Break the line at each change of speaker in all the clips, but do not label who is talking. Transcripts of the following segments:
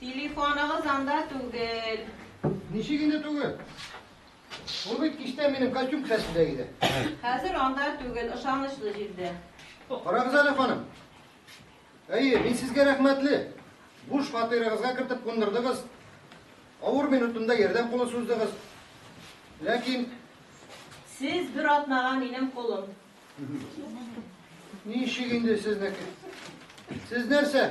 Телефоныгыз анда түгел. Ничек инде
түгел? Ул бит кичтән минем костюм кесәсендә иде. Хәзер анда
түгел, ышанычлы җирдә. Карагыз әле,
ханым. Әйе, мин сезгә рәхмәтле. Буш фатирыгызга кертеп кундырдыгыз. Авыр минутында ярдәм кулы суздыгыз. Ләкин
Сез бер атнага минем кулым.
Ничек инде сезнеке? Сез нәрсә?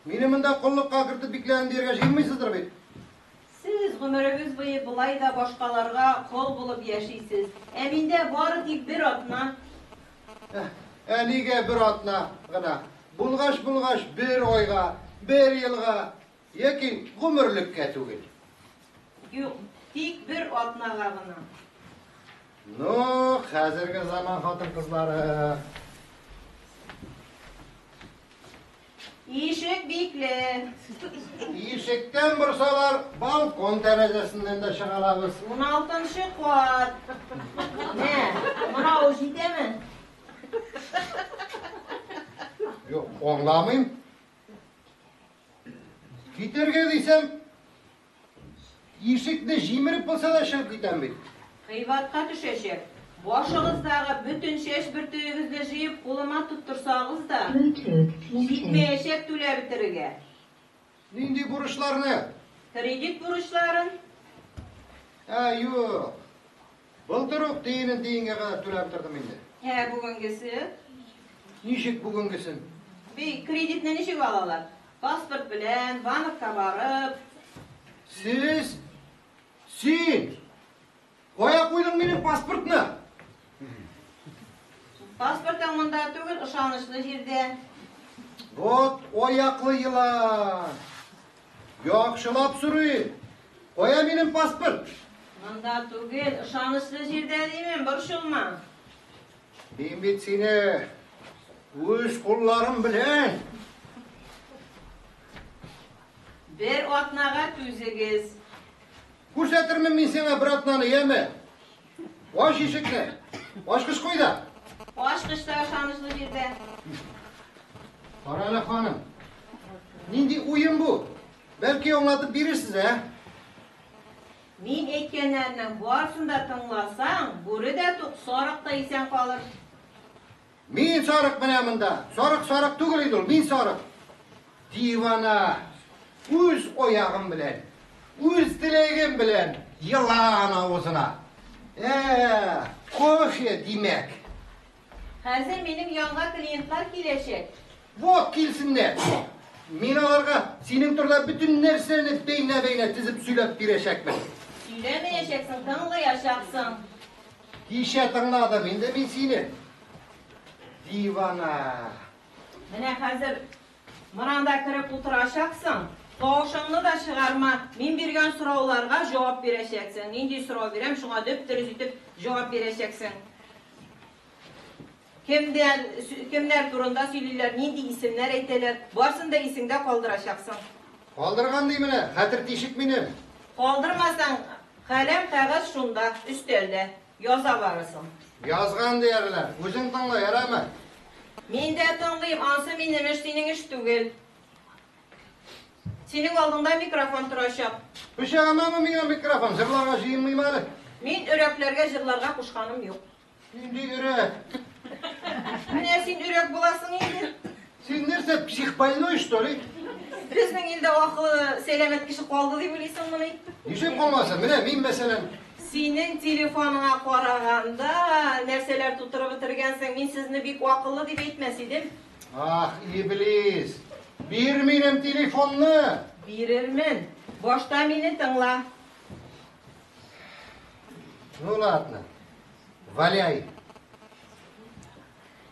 Мине монда коллыкка кертеп бикләдем дияргә җыенмыйсыздыр бит? Сез
гомерегез буе болай да башкаларга кол булып яшисез. Ә миндә бары тик бер атна. Ә, ә нигә
бер атна гына? Булгач, булгач, бер айга, бер елга, Яки гомерлеккә түгел? Юк,
тик бер атнага гына. Ну,
хәзерге заман хатын-кызлары.
Ишек бикле.
Ишектән борсалар, балкон тәрәзәсеннән дә чыга алабыз. 16-нчы
кат. Нә, мына ул җитәме?
Юк, аңламыйм. Китәргә дисәм, ишекне җимереп булса да чыгып китәм бит. Кыйбатка
төшәчәк. Башыгыздагы бөтен чәч бөртегегезне җыеп кулыма тоттырсагыз да, җитмәячәк түләп бетерергә. Нинди
бурычларны? Кредит
бурычларын. Ә,
юк. Былтыр ук тиенен тиенгә кадәр түләп тордым инде. Ә бүгенгесе?
Ничек
бүгенгесен? Бе, кредитны
ничек алалар? Паспорт белән, банкка барып. Сез,
син кая куйдың минем паспортны?
Паспортың монда түгел, ышанычлы җирдә. Вот
аяклы елан! Яхшылап сорыйм. Кая минем паспорт? Монда
түгел, ышанычлы җирдә димен, борчылма.
Мин бит сине үз кулларым белән.
Бер атнага түзегез.
Күрсәтермен мин сиңа бер атнаны, яме? Ач ишекне! Ачкыч куй да! Ачкыч та
ышанычлы җирдә. Карале,
ханым. Нинди уен бу? Бәлки аңлатып бирерсез, ә?
Мин әйткәннәрнең барсын да тыңласаң, бүре дә тук, сарык та исән калыр.
Мин сарык менә монда. Сарык сарык түгел инде ул, мин сарык. Дивана үз оягым белән, үз теләгем белән елан авызына. Ә, кофе димәк.
Хәзер минем янга клиентлар киләчәк. Вот
килсеннәр. Мин аларга синең турда бөтен нәрсәне бәйнә-бәйнә тезеп сөйләп бирәчәкмен. Сөйләмәячәксең,
тыңлаячаксың. Кичә
тыңладым инде мин сине. Дивана. Менә
хәзер мыранда кереп утырачаксың. Тавышыңны да чыгарма. Мин биргән сорауларга җавап бирәчәксең. Нинди сорау бирәм, шуңа дөп-дөрес итеп җавап бирәчәксең. Кемнәр, кемнәр турында сөйлиләр, нинди исемнәр әйтәләр, барсын да исеңдә калдырачаксың. Калдырган
ди менә, хәтер тишек минем. Калдырмасаң,
каләм, кәгазь шунда, өстәлдә. Яза барысын. Язган диярләр.
Үзең тыңла, ярыймы? Мин дә
тыңлыйм, ансы минем эш, синең эш түгел. Синең алдыңда микрофон торачак. Пычагымамы
миңа микрофон, җырларга җыенмыйм әле. Мин өрәкләргә
җырларга кушканым юк. Нинди
өрәк?
Менә син өрәк буласың инде. Син нәрсә,
психбольной, что ли? Безнең илдә
акылы сәламәт кеше калды дип уйлыйсың моны? Ничек калмаса?
Менә мин мәсәлән. Синең
телефоныңа караганда нәрсәләр тутырып бетергәнсең? Мин сезне бик акыллы дип әйтмәс идем. Ах,
иблис. Бир минем телефонны. Бирермен.
Башта мине тыңла.
Ну ладно, валяй.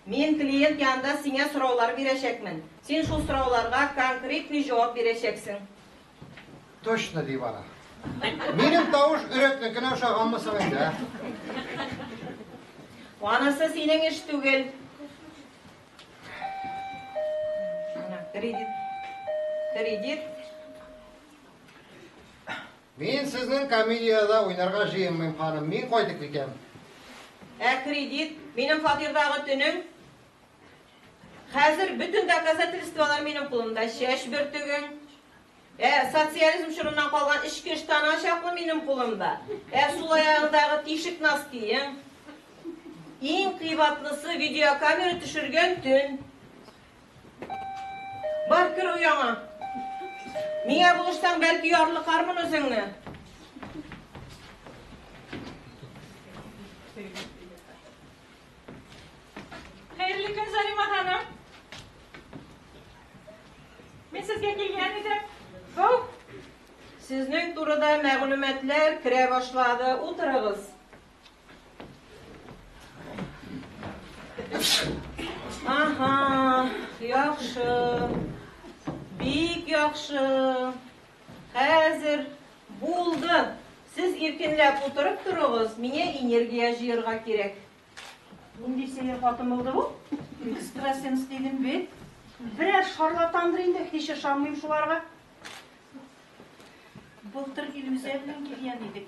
Мин клиент янында сиңа сораулар бирәчәкмен. Син шул сорауларга конкретный җавап бирәчәксең.
Точно ди бара. Минем тавыш өрәкнекенә ошаганмы соң инде?
ә? Анысы синең эш түгел. Ана, Кредит. Кредит.
Мин сезнең комедиядә уйнарга җыенмыйм, ханым, мин кайтып китәм. Ә
кредит? Минем фатирдагы төнем? Хәзер бөтен доказательстволар минем кулымда, чәч бөртегең, Ә социализм чорыннан калган эчке ыштана чаклы минем кулымда. Ә сул аягыңдагы тишек носкиең. Иң кыйбатлысы видеокамера төшергән төн. Бар, кер ояңа. Миңа булышсаң, бәлки ярлыкармын үзеңне.
Хәерле көн, Зарима ханым. Мин сезгә килгән идем. Бу
сезнең турыда мәгълүматлар керә башлады. Утырыгыз. Aha, yaxşı. Бик яхшы. Хәзер булды. Сез иркенләп утырып торыгыз, миңа энергия җыярга кирәк. Нинди
сәер хатын булды бу? Экстрасенс дидем бит. Берәр шарлатандыр инде, һич ышанмыйм шуларга. Былтыр Илүзә белән килгән идек.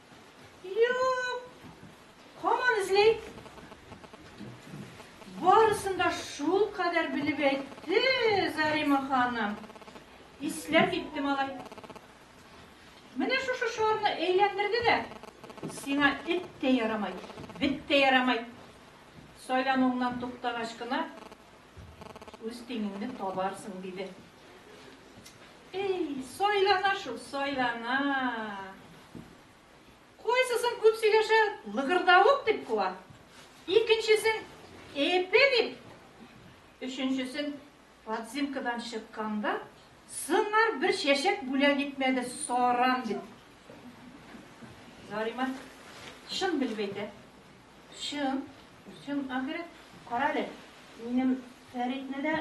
Юк. Хаман эзли. Барысын да шул кадәр белеп әйтте Зарима ханым. Исләп китте малай. Менә шушы шарны әйләндерде дә, сиңа эт тә ярамай, бет тә ярамай. Сайлануыңнан туктагач кына Үз тиңеңне табарсың, диде. Эй, сайлана шул, сайлана. Кайсысын күп сөйләшә, лыгырдавык дип куа. Икенчесен эпе дип. Өченчесен подзимкадан чыкканда сыңар бер чәчәк бүләк итмәде, саран дип. Зарима чын белеп әйтә. Чын, чын ахирәт. Карале, минем
Фәритне дә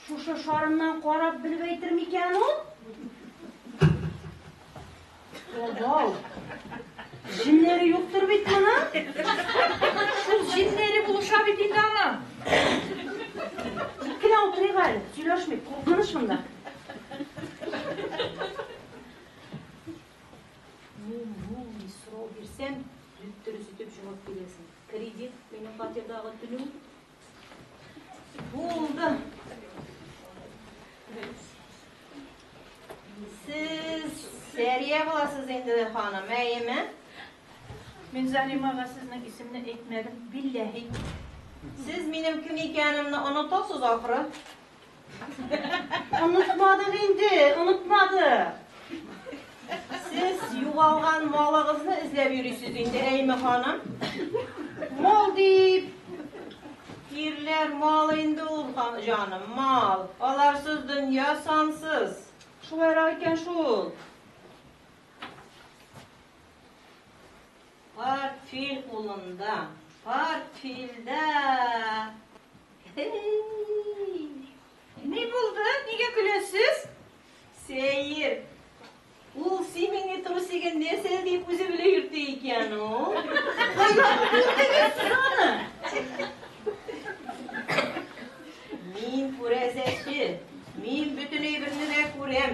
шушы шарыннан карап белеп әйтер микән ул? Озау. Җиннәре юктыр бит моның?
Шул җиннәре булыша бит инде ана. Тик
кенә утырыйк әле, сөйләшмик, куркыныч монда.
Мин сорау бирсәм, дөрес итеп җавап бирәсең. Кредит, минем фатирдагы түләү. Булды. Сез Сәрия буласыз инде, ханым, әйеме?
Мин Залимага сезнең исемне әйтмәдем, билләһи. Сез
минем кем икәнемне онытасыз, ахры?
Онытмадык инде, онытмадык.
Сез югалган малыгызны эзләп йөрисез инде, әйме ханым? Мал
дип,
ирләр мал инде ул, җаным, мал. Аларсыз дөнья сансыз. Шулайрак
икән шул.
Портфель кулында, портфельдә
Ни булды? Нигә көләсез? Сәер.
Ул симени трусигын нәрсә дип үзе белә йөртә икән ул. Кайдан күрдегез аны? Мин күрәзәче. Мин бөтен әйберне дә күрәм.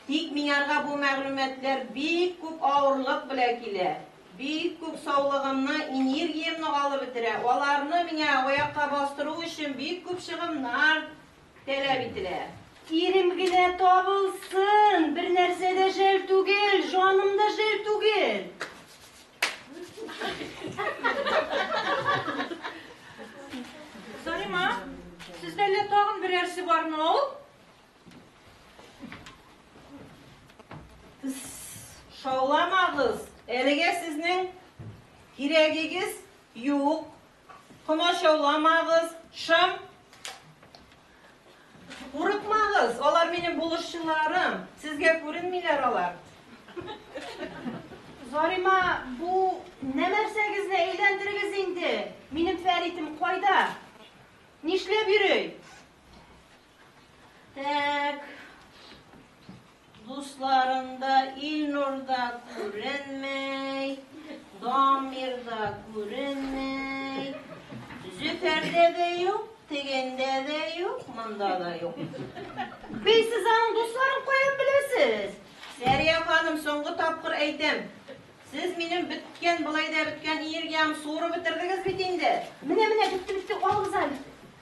Тик миңарга бу мәгълүматлар бик күп авырлык белә килә. Бик күп саулыгымны, энергиямне алып бетерә. Аларны миңа аякка бастыру өчен бик күп чыгымнар таләп ителә. Ирем генә
табылсын! Бер нәрсә дә жәл түгел, җаным да жәл түгел.
Зарима, сездә әллә тагын берәрсе бармы ул?
Шауламагыз, әлегә сезнең кирәгегез юк. Комачауламагыз, шым. Курыкмагыз, алар минем булышчыларым. Сезгә күренмиләр алар.
Зарима, бу нәмәрсәгезне әйләндерегез инде. Минем Фәритем кайда? Нишләп йөри? Так.
Дусларында Илнурда күренмәй, Дамирда күренмәй. Зөфәрдә дә юк, тегендә дә юк, монда да юк. Бей
сез аның дусларын каян беләсез? Сәрия
ханым, соңгы тапкыр әйтәм. Сез минем беткән, былай да беткән энергиям суырып бетердегез бит инде. Менә-менә бетте-бетте,
алыгыз әле.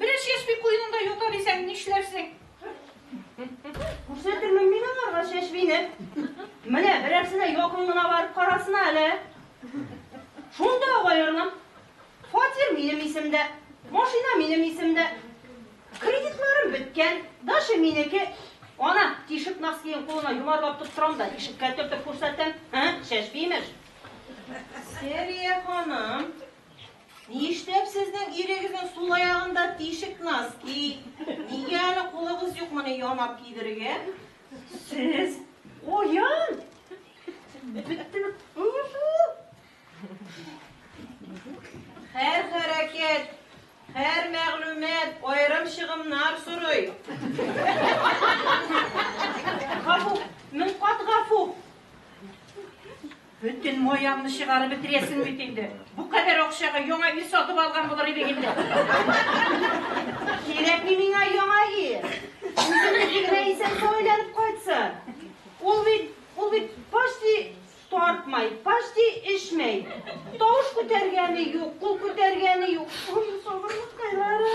Бераз чәчби куенында ята дисәң, нишләрсең?
Күрсәтермен мин аларга чәчбине. Менә берәрсенә якын гына барып карасына әле. Шунда ук аерылам. Фатир минем исемдә, машина минем исемдә. Кредитларым беткән, дача минеке. Ана, тишек носкиен кулына йомарлап тоттырам да, ишеккә төртеп күрсәтәм. Һә, чәчби, имеш.
Сәрия ханым. Нишләп сезнең ирегезнең сул аягында тишек носки? Нигә әле кулыгыз юк моны янап кидерергә? Сез
уян! Беттем.
Һәр хәрәкәт, һәр мәгълүмат аерым чыгымнар сорый.
Гафу, мең кат гафу.
Бөтен маямны чыгарып бетерәсең бит инде. Бу кадәр акчага яңа өй сатып алган булыр идең инде.
Кирәкми миңа яңа өй. Үзем нинди генә исән-сау әйләнеп кайтсын. Ул бит, ул бит почти тартмай, почти эчмәй. Тавыш күтәргәне юк, кул күтәргәне юк. Ой, сабырлыкайлары.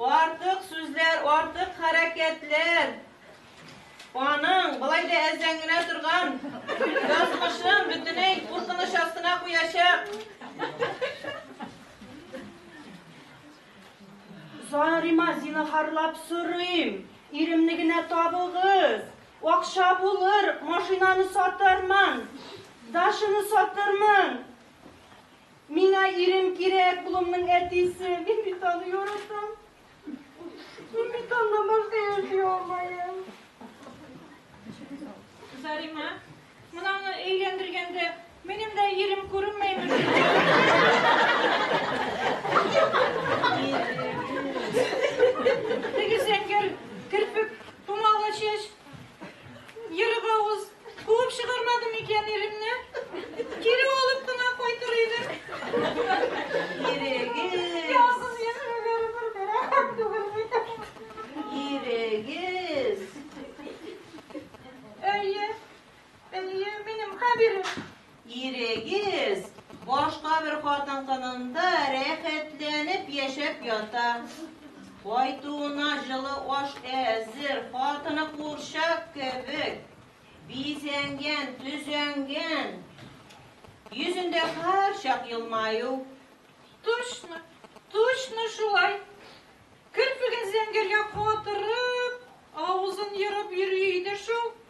Артык сүзләр, артык хәрәкәтләр. Аның былай да әзәңгенә торган язмышын бөтенләй куркыныч астына куячак.
Зарима, зинахарлап сорыйм, иремне генә табыгыз. Акча булыр, машинаны сатармын, дашыны сатырмын. Миңа ирем кирәк, улымның әтисе. Мин бит аны яратам. Мин бит аннан башка яши алмаем.
Зарима, мынаны өйләндергәндә минем дә ирем күренмәйме? Теге зәңгәр керпек тумалы чәч Ерык авыз, куып чыгармадым икән иремне. Кире алып кына кайтыр идем.
Ирегез. Язсыз язмалары
бер бәрәкәт түгел бит.
Ирегез.
Әйе. Әйе, минем Хәбирем. Ирегез
башка бер хатын-кынында рәхәтләнеп яшәп ята. Кайтуына җылы аш әзер, хатыны курчак кебек бизәнгән, төзәнгән. Йөзендә һәрчак елмаю. Точно,
точно шулай! Керфеген зәңгәргә катырып, авызын ерып йөри иде шул.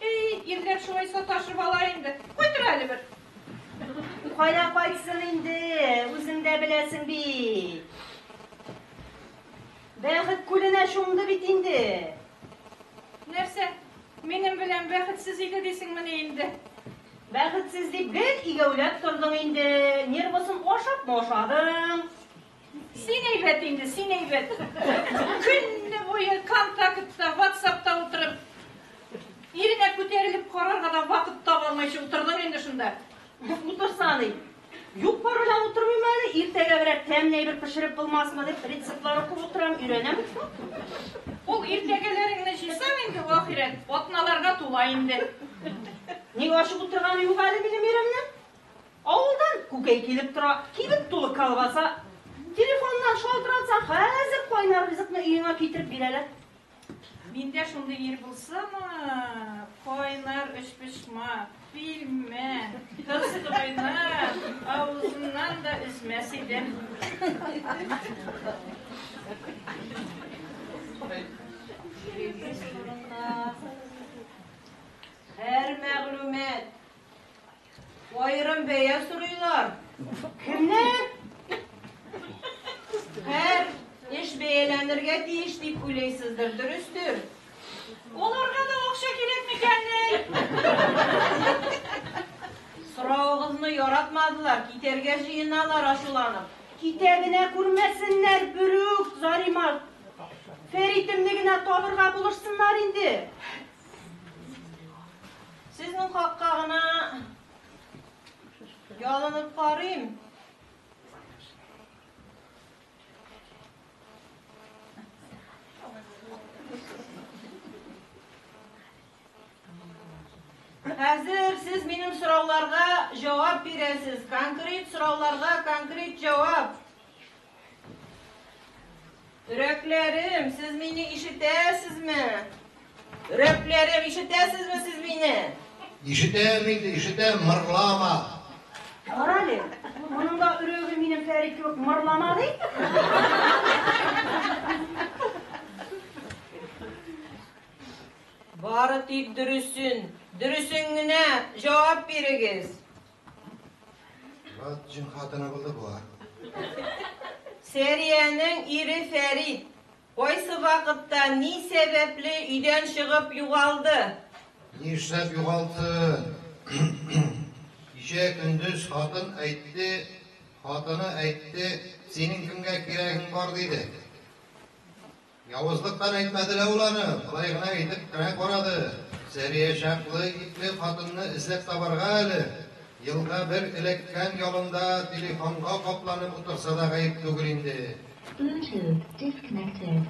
Әй,
ирләр шулай саташып ала инде. Куй тор әле бер. Кая
кайтсын инде, үзең дә беләсең бит. Бәхет күленә чумды бит инде.
Нәрсә, минем белән бәхетсез иде дисеңмени инде? Бәхетсез
дип гел игәүләп тордың инде, нервысын ашапмы ашадың? Син
әйбәт инде, син әйбәт. Көнне буе контактта, ватсапта утырып, иренә күтәрелеп карарга да вакыт таба алмыйча утырдың инде шунда. Утырса
ни? Юк барына утырмыйм әле, иртәгә берәр тәмле әйбер пешереп булмасмы дип рецептлар укып утырам, өйрәнәм.
Ул иртәгәләреңне җыйсаң инде ахирәт, атналарга тула инде. Ник
ачып утырганы юк әле минем иремнең? Авылдан күкәй килеп тора, кибет тулы колбаса. Телефоннан шалтыратсаң, хәзер кайнар ризыкны өеңә китереп бирәләр. Миндә
шундый ир булсамы, кайнар өчпочмак, пилмән, кызгайна, авызыннан да өзмәс идем.
Һәр мәгълүмат Аерым бәя сорыйлар. Кемнәр? Һәр эш бәяләнергә тиеш дип уйлыйсыздыр, дөрестер? Аларга
да акча кирәк микәнни?
Соравыгызны яратмадылар, китәргә җыеналар ачуланып. Китә генә
күрмәсеннәр, берүк, Заримарт. Фәритемне генә табырга булышсыннар инде.
Сезнең хакка гына ялынып карыйм. Хәзер сез минем сорауларга җавап бирәсез. Конкрет сорауларга конкрет җавап. Өрәкләрем, сез мине ишетәсезме? Өрәкләрем, ишетәсезме сез мине? Ишетәм инде,
ишетәм, мырлама. Карале,
моның да өрәге минем Фәрит кебек мырлама ди.
Бары тик дөресен, дөресен генә җавап бирегез.
Мират җен хатыны булды болар. Сәриянең
ире Фәрит кайсы вакытта, ни сәбәпле өйдән чыгып югалды? Нишләп
югалсын? Кичә көндез хатын әйтте, хатыны әйтте, синең кемгә кирәгең бар диде. Явызлыктан әйтмәде лә ул аны, болай гына әйтеп кенә карады, Сәрия чаклы итле хатынны эзләп табарга әле, елга бер эләккән ялында телефонга капланып утырса да гаеп түгел инде. Bluetooth
disconnected.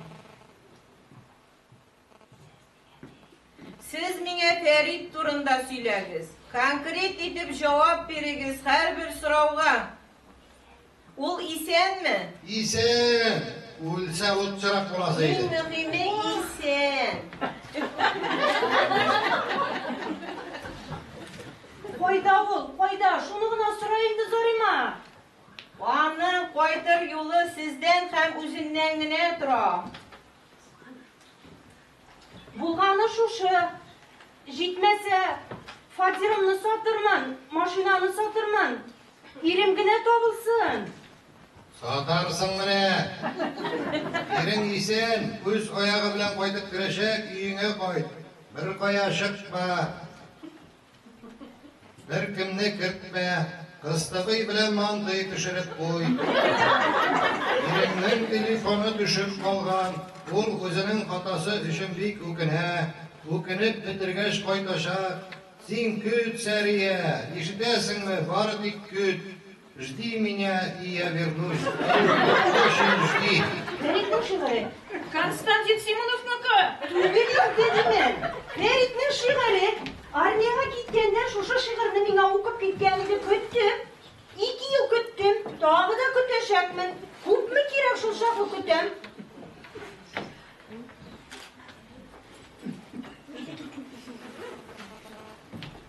Сез миңа Фәрит турында сөйләгез. Конкрет итеп җавап бирегез һәрбер сорауга. Ул исәнме? Исән!
Үлсә ут чырак буласы Иң иде. мөһиме
исән.
Кайда ул? Кайда? Шуны гына сора инде, Зарима. Аның
кайтыр юлы сездән һәм үзеннән генә тора.
Булганы шушы, җитмәсә, фатирымны сатырмын, машинаны сатырмын, ирем генә табылсын.
Сатарсың менә. Ирең исән, үз аягы белән кайтып керәчәк, өеңә кайт. Беркая чыкма. Беркемне кертмә, кыстыбый белән мандый төшереп куй. Иреңнең телефоны төшеп калган, ул үзенең хатасы өчен бик үкенә, үкенеп бетергәч кайтачак. Син көт, Сәрия, ишетәсеңме, бары тик көт. Жди меня, и я вернусь. Очень жди. Берик не шигали.
Константин
Симоновныкы. Берик не
димен. Берик не шигали. Армияга киткәндә шушы шигырьне миңа укып киткән иде, көттем. Ике ел көттем, тагы да көтәчәкмен. Күпме кирәк шул чаклы көтәм.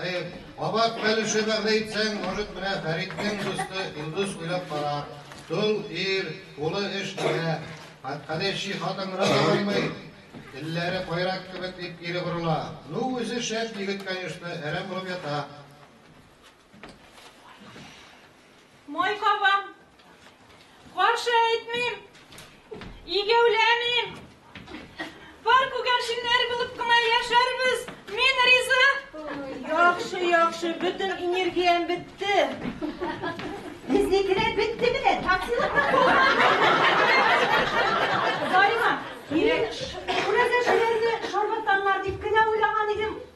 Әйе, кабат Пәлүче бәгъдә итсәң, может, менә Фәриттең дусты Илдус уйлап карар. Тол ир, кулы эш кенә. Кадәй чи хатын рак алмый. Телләре кайрак кебек, дип кире борыла. Ну, үзе шәп егет, конечно, әрәм булып ята.
Май кабам. Каршы әйтмим. Игәүләмим. Бар күгәрченнәр булып кына яшәрбез. Мин риза. Яхшы,
яхшы. Бөтен энергиям бетте. Безнекеләр
бетте менә. Таксилыкка Зарина, мин күрәзәчеләрне шарлатаннар дип кенә уйлаган идем.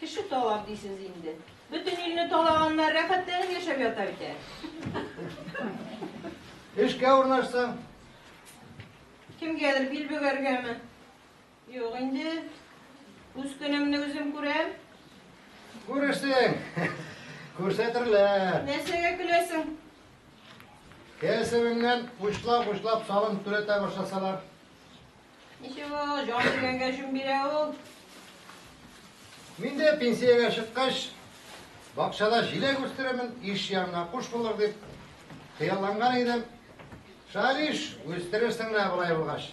Кеше
талап дисез инде. Бөтен илне талаганнар, рәхәтләнеп яшәп ята бит әле.
Эшкә урнашсаң.
Кемгәдер бил бөгәргәме? Юк инде. Үз көнемне үзем күрәм.
Күрерсең. Күрсәтерләр. Нәрсәгә көләсең?
Кәсебеңнән
учлап-учлап салым түләтә башласалар. Ничек
ул, җан биргәнгә җүн бирә ул.
Мин дә пенсиягә чыккач, бакчада җиләк үстерәмен, иш янына куш булыр дип хыялланган идем. Шалиш, үстерерсең менә болай булгач.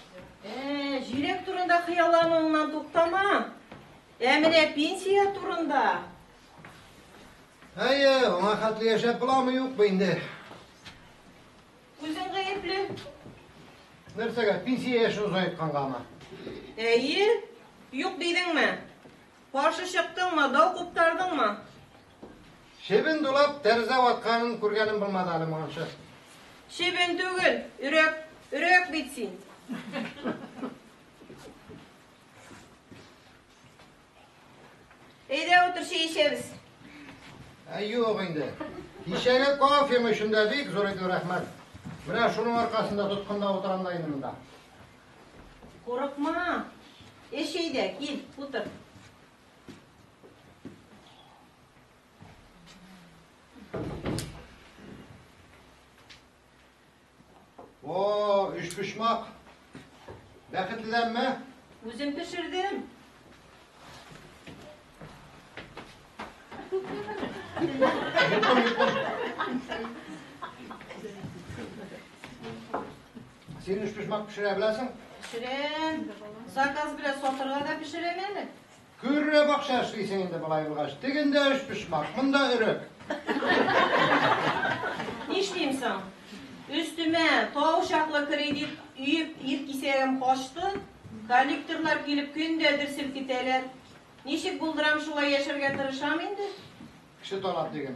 Ә, җиләк
турында хыяллануыңнан туктама. Ә менә пенсия турында.
Әйе, аңа хәтле яшәп буламы юкмы инде. Үзең
гаепле.
Нәрсәгә? Пенсия яшен озайткангамы? Әйе,
юк дидеңме? Каршы чыктыңмы, дау куптардыңмы?
Чебен дулап, тәрзә ватканын күргәнем булмады әле моңынчы. Чебен
түгел, өрәк, өрәк бит син. Әйдә, утыр, чәй эчәбез. Ә
юк инде. Кичәге кофем өчен дә бик зур итеп рәхмәт. Менә шуның аркасында тоткында утырам да инде монда. Курыкма.
Эш әйдә, кил, утыр.
О, өчпочмак. Бәхетледәнме? Үзем пешердем. Син өчпочмак пешерә беләсең? Пешерәм.
Заказ белән сатырга да пешерәм әле. Күрре
бакча эшлисең инде болай булгач, тегендә өч почмак, монда өрек.
Нишлим соң? Өстемә тау чаклы кредит өеп ир кисәгем качты, коллекторлар килеп көн дә дер селкетәләр. Ничек булдырам шулай яшәргә тырышам инде. Кеше талап
диген.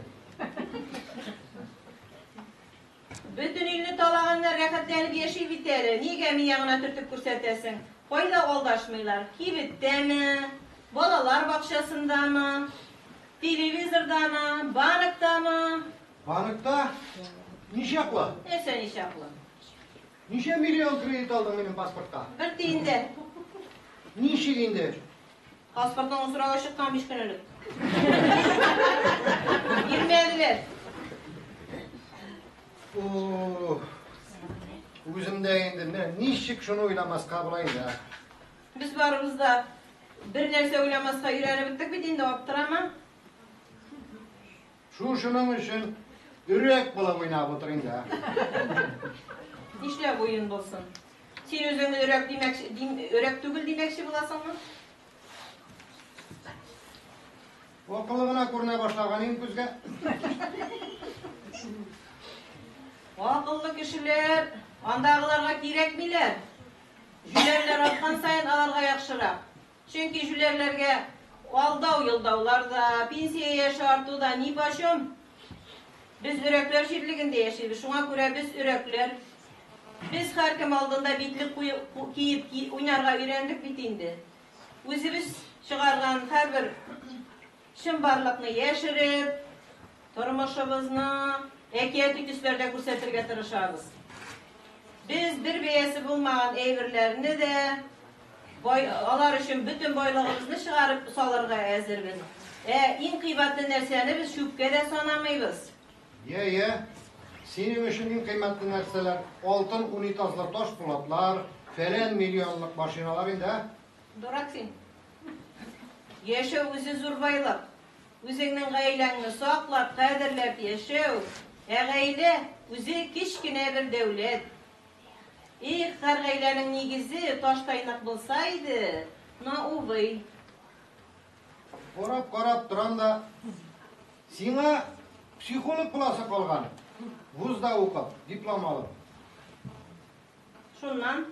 Бөтен илне талаганнар, рәхәтләнеп яши бит әле. Нигә миңа гына төртеп күрсәтәсең? Кайда алдашмыйлар? Кибеттәме? Балалар бакчасындамы? Телевизордамы? Банктамы? Банкта?
Ничаклы? Нәрсә ничаклы?
Ничә
миллион кредит алдың минем паспортка? Бер тиен дә. Ничек инде? Паспортыңны
сорарга чыккан биш көн элек. Бирмәделәр.
Үзем дә инде, менә ничек шуны уйламаска була инде. Без барыбыз
да бер нәрсә уйламаска өйрәнеп беттек бит инде, аптырама.
Шушының өчен өрәк булып уйнап утыр инде, ә? Нишләп
уен булсын? Син үзең өрәк димәкче, дим, өрәк түгел димәкче буласыңмы?
Акыллы гына күренә башлаган иң күзгә.
Акыллы кешеләр андагыларга кирәкмиләр. Җүләрләр арткан саен аларга яхшырак. Чөнки җүләрләргә алдау-йолдаулар да, пенсия яше арту да нипочем. Без өрәкләр җирлегендә яшибез, шуңа күрә без өрәкләр. Без һәркем алдында битлек киеп уйнарга өйрәндек бит инде. Үзебез чыгарган һәрбер Чынбарлыкны яшереп, тормышыбызны әкияти төсләрдә күрсәтергә тырышабыз. Без бер бәясе булмаган әйберләрне дә, алар өчен бөтен байлыгыбызны чыгарып салырга әзербез. Ә иң кыйбатлы нәрсәне без чүпкә дә санамыйбыз. Йә, йә.
Синең өчен иң кыйммәтле нәрсәләр, алтын унитазлы ташпулатлар, фәлән миллионлык машиналар инде, ә? Дурак син.
Яшәү үзе зур байлык. Үзеңнең гаиләңне саклап, кадерләп яшәү, ә гаилә үзе кечкенә бер дәүләт. Их, һәр гаиләнең нигезе таштай нык булса иде, но увы. Карап
карап торам да, сиңа психолог буласы калган, вузда укып, диплом алып.
Шуннан.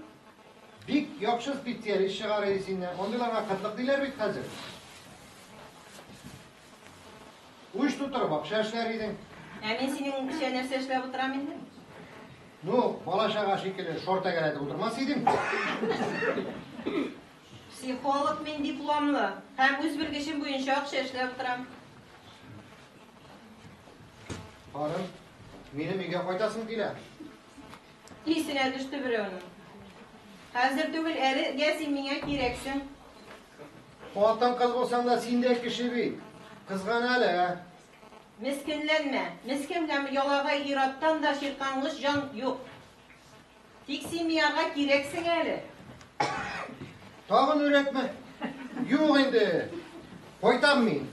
Бик
яхшы специалист чыгарыйы синнән. Андыйларга кытлык диләр бит хәзер. Уч тутырып акча эшләр идең. Ә мин синеңчә
нәрсә эшләп утырам инде? Ну,
бала чага шикелле шор тәгәрәтеп утырмас идең. Психолог
мин дипломлы һәм үз белгечем буенча акча эшләп утырам.
Харым, минем өйгә кайтасың килә.
Исенә төште берәүнең. Хәзер түгел, әле гә син миңа кирәксең.
Хатын-кыз булсаң да, син дә кеше бит. Кызган әле, ә?
Мескенләнмә. Мескен һәм ялагай ир-аттан да чирканлыч җан юк. Тик син миага кирәксең әле.
Тагын өрәкме? Юк инде. Кайтам мин.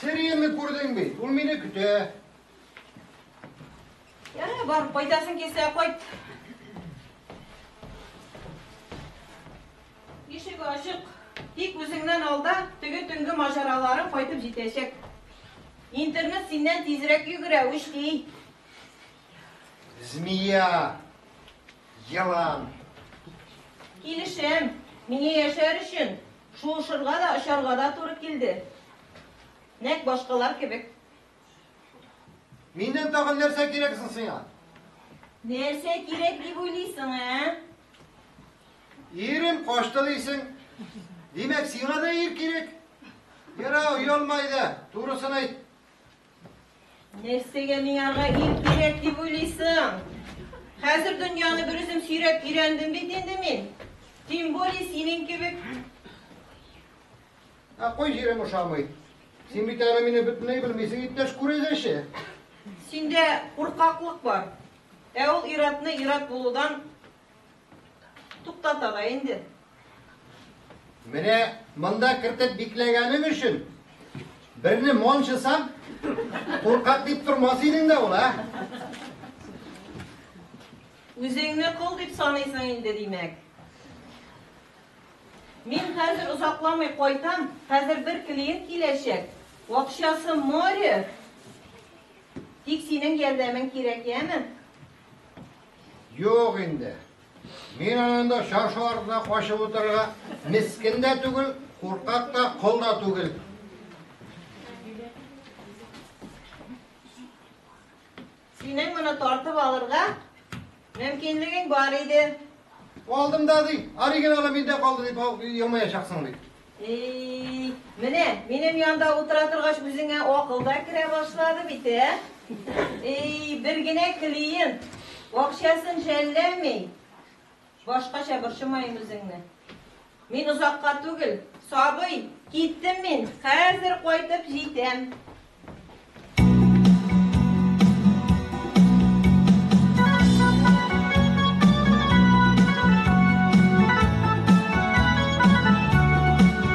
Сириенне күрдең бит, ул мине көтә.
Ярый, бар, кайтасың килсә, кайт. Ишек ачык. Тик үзеңнән алда теге төнге мажараларың кайтып җитәчәк. Интернет синнән тизрәк йөгерә, үчли.
Змея, елан.
Килешәм. Миңа яшәр өчен шуышырга да, очарга да туры килде. Нәк башкалар кебек.
Миннән тагын нәрсә кирәк соң сиңа? Нәрсә
кирәк дип уйлыйсың, ә? Ирем
кашты дисең. Димәк, сиңа да ир кирәк. Яра, оялма иде, турысын әйт. Нәрсәгә
миңарга ир кирәк дип уйлыйсың? Хәзер дөньяны бер үзем сөйрәп өйрәндем бит инде мин. Тем более синең кебек
Ә кой җирем ошамый. Син бит әле мине бөтенләй белмисең, иптәш күрәзәче. Синдә
куркаклык бар. Ә ул иратны ират булудан туктата да инде.
Менә монда кертеп бикләгәнең өчен берне мончысам, куркак дип тормас идең дә ул, а?
Үзеңне кол дип саныйсың инде, димәк. Мин хәзер озакламый кайтам, хәзер бер клиент киләчәк, акчасы море, тик синең ярдәмең кирәк, яме? Юк
инде. Мин анында чаршы артына качып утырырга мискен дә түгел, куркак та, кол да түгел.
Синең моны тартып алырга мөмкинлегең бар иде. Алдым
да ди, оригиналы миндә калды дип елмаячаксың ди. Эй,
менә минем янда утыра торгач үзеңә акыл да керә башлады бит, ә? Эй, бер генә клиент акчасын жәлләми. Башкача борчымаем үзеңне. Мин озакка түгел, сабый, киттем мин, хәзер кайтып җитәм.